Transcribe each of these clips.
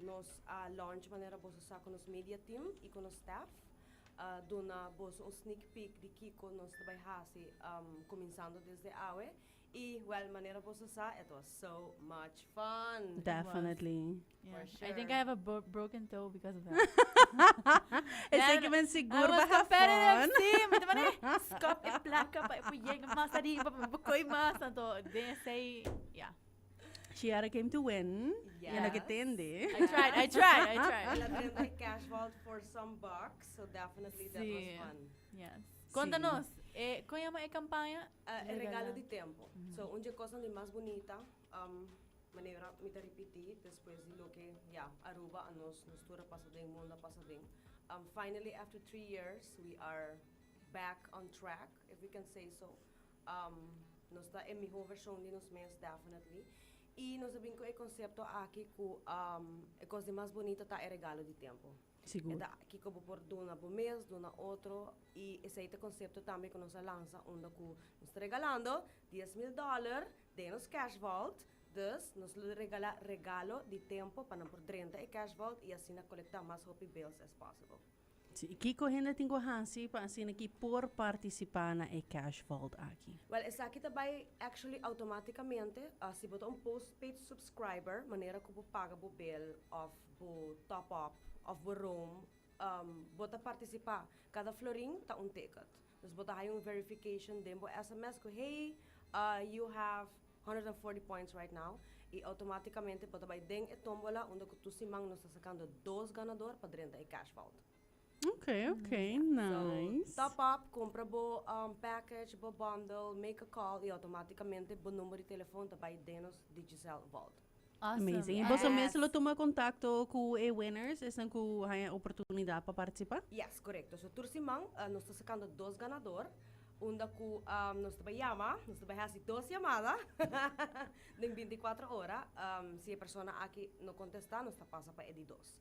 Nos a launch manera boso sa ku nos media team i ku nos staff a duna boso un sneak peek di kiko nos ta bai hasi kuminsando desde awe i wèl manera boso sa it was so much fun. Definitely. For sure. I think I have a bro broken toe because of that. Esei ke men sigur I was baha competitive, fun. sí. Mi ta mane skop e plaka pa e por yega mas ariba, pa mi por koi mas. Anto den esei, ya. Chiara came to win. Yes. Yendo que tende. I tried, I tried, I tried. Ella tende cash vault for some bucks, so definitely sí. that was fun. Yes. Contanos, sí. eh, con llama e campaña? Uh, e regalo di tempo. Mm -hmm. So, un de cosa di mas bonita, um, manera mi ta repeti, después di lo que, ya, yeah, Aruba a nos, nos tura pasa den, mundo pasa den. Um, finally, after three years, we are back on track, if we can say so. Nos ta e mihó vershon di nos mes, definitely. I nos a bin ku e konsepto aki ku e kos di mas bunita ta e regalo di tempu. Sigur. E ta kiko bo por duna bo mes, duna otro, i esei ta konsepto tambe ku nos a lansa unda ku nos ta regalando dies mil dòler den nos cash vault. Dus nos lo regala regalo di tempu pa nan por drenta e cash vault i asina kolektá mas hopi bills as possible. Sí, kiko hende tin ku hasi pa asina ki por partisipá na e cash vault aki? Wèl, esaki ta bai actually outomátikamente si bo ta un postpaid subscriber, manera ku bo paga bo bel òf bo top-up òf bo roam, bo ta partisipá. Kada florin ta un ticket. Dus bo ta haya un verification den bo sms cu hey ah you have honderd en forti points right now y automaticamente bo ta bay den e tombola unda cu tu siman nos ta sacando dos ganador pa drenta e cash vault. Ok ok So nice. top up compra bo um package bo bundle make a call y automaticamente bo number di telefon ta bay den nos Digicel vault. Amazing. Y boso mes lo tuma contacto cu e winners, esnan cu haya oportunidad pa participa? Yes, corecto. So tur siman nos ta sacando dos ganador, unda cu nos ta bay yama, nos ta bay haci dos yamada den binti cuatro ora. Si e persona aki no contesta, nos ta pasa pa e di dos.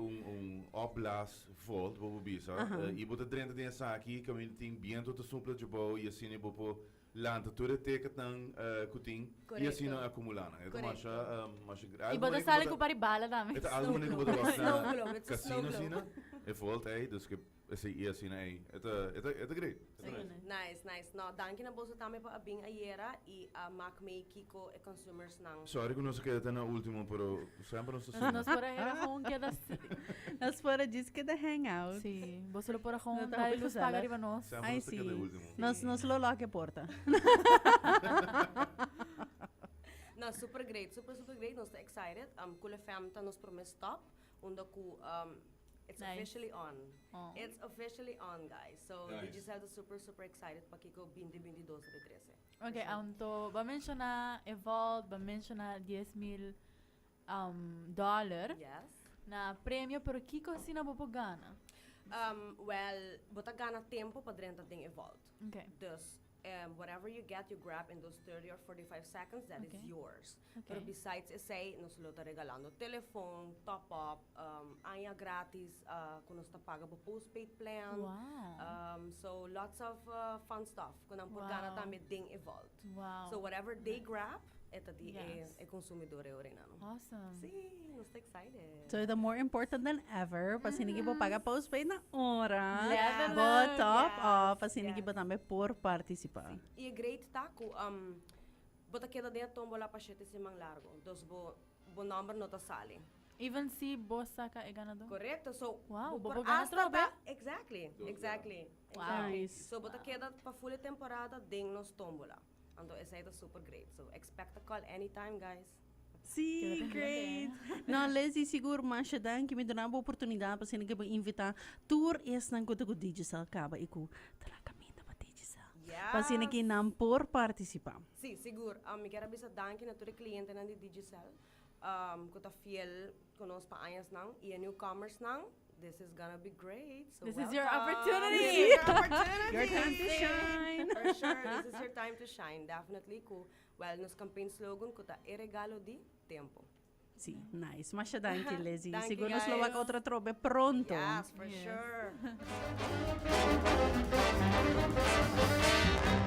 Un un opblaas volt bo por bisa i bo ta drenta den esaki kaminda tin bientu ta supla dje bou i asina i bo por lanta tur e teketan ku tin i asina akumulá nan e ta masha masha granti i bo ta sali ku pari bala tambe e ta algu manera ku bo ta wak na kasino asina e volt ei dus ke. Esei i asina ei. E ta e ta e ta great. E ta nice. Nice nice no danki na boso tambe pa a bin ayera i a mak mee kiko e consumers nan. Sorry ku nos a keda ta na ultimo pero semper nos ta singa. Nos por a hera gewoon keda Nos por a djis keda hang out. Si boso lo por a gewoon ta e luz paga riba nos. Semper nos ta keda e ultimo. Ai si nos lo lock e porta. No super great super super great nos ta excited. Cool FM ta nos prome stop. Unda ku It's officially on It's officially on guys so Digicel ta super super excited pa kiko binti binti dos ta bin trese Ok anto bo menshona e vault bo menshona dies mil dollar na premio pero kiko asina bo por gana? Well bo ta gana tempo pa drenta den e vault dus whatever you get you grab in those thirty or forty five seconds that is yours Pero besides esey nos lo ta regalando telefon, top up, aña gratis cu nos ta paga bo postpaid plan, so lots of fun stuff cu nan por gana tambe den e vault. So whatever they grab e ta di e consumidor e orinano. Si, nos ta excited. So e ta more important than ever pa asina ki bo paga postpaid na ora, bo top up pa asina ki bo tambe por participa. Si, y e great ta cu. Bo ta keda den e tombola pa shete siman largo, dus bo bo nomber no ta sali. Even si bo saka e ganador? Correcto, so bo por hasta ta, exactly, exactly, exactly, so bo ta keda pa full e temporada den nos tombola, anto esei ta super great, so expect a call anytime guys. Sí, great! Nau Lizzy, sigur masha danki. Mi duna bo oportunidat pa siña ke bo invitá tur esnan ku ta ku Digicel kaba i ku ta na kaminda pa Digicel. Yes! Pa siña ke nan por partisipá. Sí, sigur. Mi kier a bisa danki na tur e klientenan di Digicel ku ta fiel ku nos pa añasnan i e newcomersnan. This is gonna be great, so welcome! This is your opportunity! This is your opportunity! Your time to shine! For sure, this is your time to shine. Definitely ku Well nos campaign slogan cu ta E regalo di, tempo. Sí, nice. Masha danki Lizzy. Danki Sigur nos lo wak Gael. otro trobe pronto. Yes, for sure.